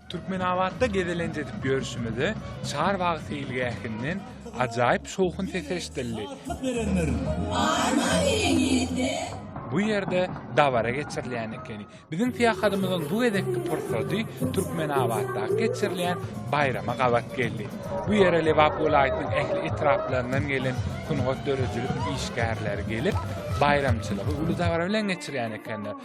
Türkmenabatda gezelenç edip ýörşümize Çarbagy seýilgähinden ajaýyp şowhun sesi eşidildi. Bu ýerde dabara geçirilýän ekeni. Biziň syýahatymyzyň bu gezekki pursady Türkmenabatda geçirilýän baýrama gabat geldi. Bu ýere Lebap welaýatynyň ähli etraplaryndan gelen sungat döredijilik işgärleri gelip, baýramçylygy uly dabara bilen geçirýän ekenler.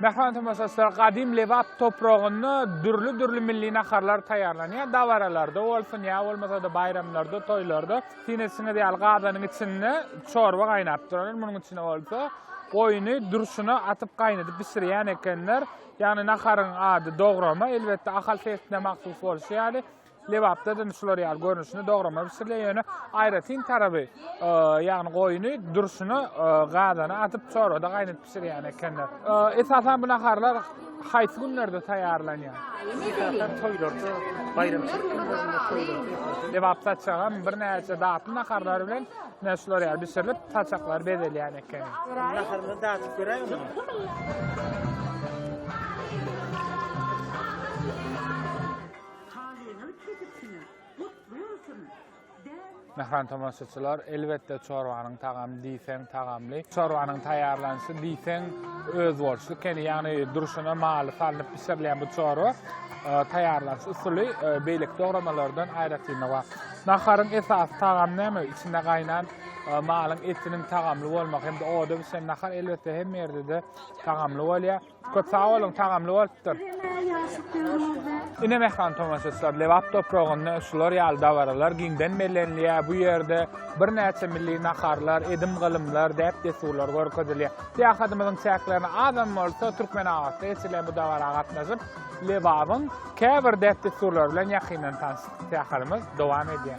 Mähriban tomaşaçylar, gadym Lebap topragynda dürli-dürli milli naharlar taýýarlanýar. Dabaralarda bolsun, ýa bolmasa-da baýramlarda, toýlarda. Siz etişiňiz ýaly, gazanyň içinde çorba gaýnap durar. Munuň içine bolsa goýny durşuna atyp gaýnadyp bişirýän ekenler. Ýagny naharyň ady dograma, elbetde, Ahal sebitine mahsus bolşy ýaly, Lebapda da şular ýaly görnüşinde dograma bişirilýär. Ýöne aýratyn taraby, e, ýagny goýny durşuna e, gazana atyp çorbada gaýnadyp bişirýän ekenler. E, esasan bu naharlar haýsy günlerde taýýarlanýar? Esasan toýlarda, baýramçylyk günlerinde toýlarda. Lebap saçagam birnäçe datly naharlar bilen ne şular ýaly bişirilip, saçaklar bezelýän eken. Naharlar datyp göräýmä? Halyňyz kesikçine gutly bolsun! Däp. Mähran tomaşaçylar, elbetde çorbanyň tagamy diýseň tagamly. Çorbanyň taýýarlanyşy diýseň özboluşly ekeni, ýagny durşuna maly salnyp bişirilýän bu çorba taýýarlanyş usuly beýleki dogramalardan aýratynlygy bar. Naharyň esasy tagamy näme? Içinde gaýnan malyň etiniň tagamly bolmagy hem-de oda bişen nahar elbetde hemme ýerde-de tagamly bolýar. Köp sag boluň, tagamly bolupdyr. Ine Mehran tomaşaçylar, Lebap topragynda şular ýaly dabaralar giňden bellenilýär. Bu ýerde birnäçe milli naharlar, edim-gylymlar, däp-dessurlar görkezilýär. Syýahatymyzyň çäklerinde azam bolsa Türkmenabatda geçirilen bu dabara gatnaşyp, Lebabyň käbir däp-dessurlary bilen ýakyndan tanyşdyk. Syýahatymyz dowam edýär.